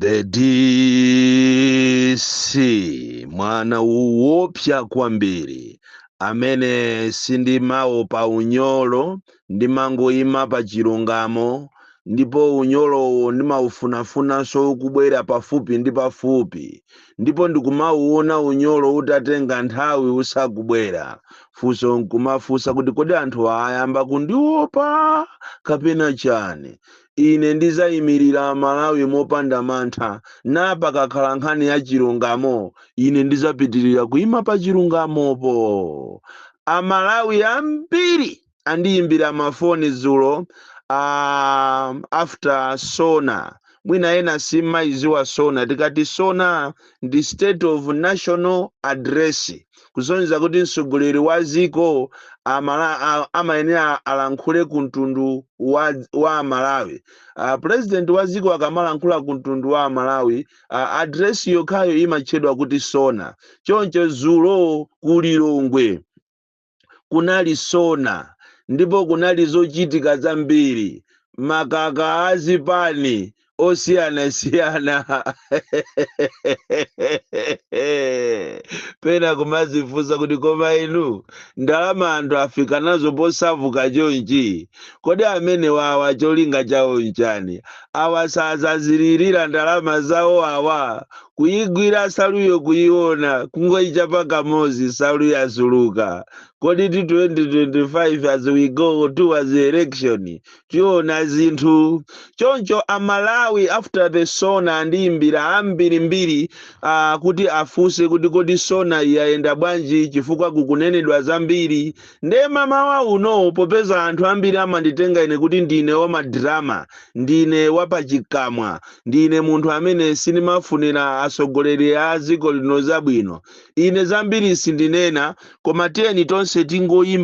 The DC mwana woopsa kwambiri amene sindimawopa unyolo ndimangoyima pa chilungamo ndipo unyolowo ndimaufunafuna sukubwera pafupi ndi pafupi ndipo ndikumauona unyolo utatenga nthawi usakubwera funso nkumafunsa kuti kodi anthu ayamba kundiopa kapena chani Ine ndidzaimirira Malawi mopanda mantha, nde pakakhala nkhani ya chilungamo, ine ndidzapitirira kuima pa chilungamopo. Amalawi ambiri andiimbira mafoni dzulo um, after SONA. Mwina ena simumayidziwa SONA. Tikati SONA ndi State of National Address. kusonyeza kuti mtsogoleri wa dziko amala, a, amayenera alankhule ku mtundu wa, wa Amalawi. Uh, president wa dziko akamalankhula ku mtundu wa Amalawi, uh, address yokhayo imatchedwa kuti sona. Choncho dzulo ku Lilongwe kunali sona ndipo kunali zochitika zambiri makamaka azipani osiyanasiyana pena kumazifunsa kuti koma inu ndalama anthu avutika nazo posauka chonchi kodi amene wawa cholinga chawo nchani awa sazazilira ndalama zawo awa kuyigwira nsaluyo kuyiona kungoyichapa kamozi nsalu yasuluka kodi 2025 as we go towards the election tiona zinthu choncho amalawi after the sona andiyimbira ambirimbiri uh, kuti afunse kuti kodi sona yayenda bwanji chifukwa kukunenedwa zambiri nde mmamawa uno popeza anthu ambiri amanditenga ine kuti ndine wamadrama ndine wapachikamwa ndine munthu amene sindimafunira atsogoleri a dziko lino zabwino ine zambiri sindinena koma tiyeni tonse tingoyimba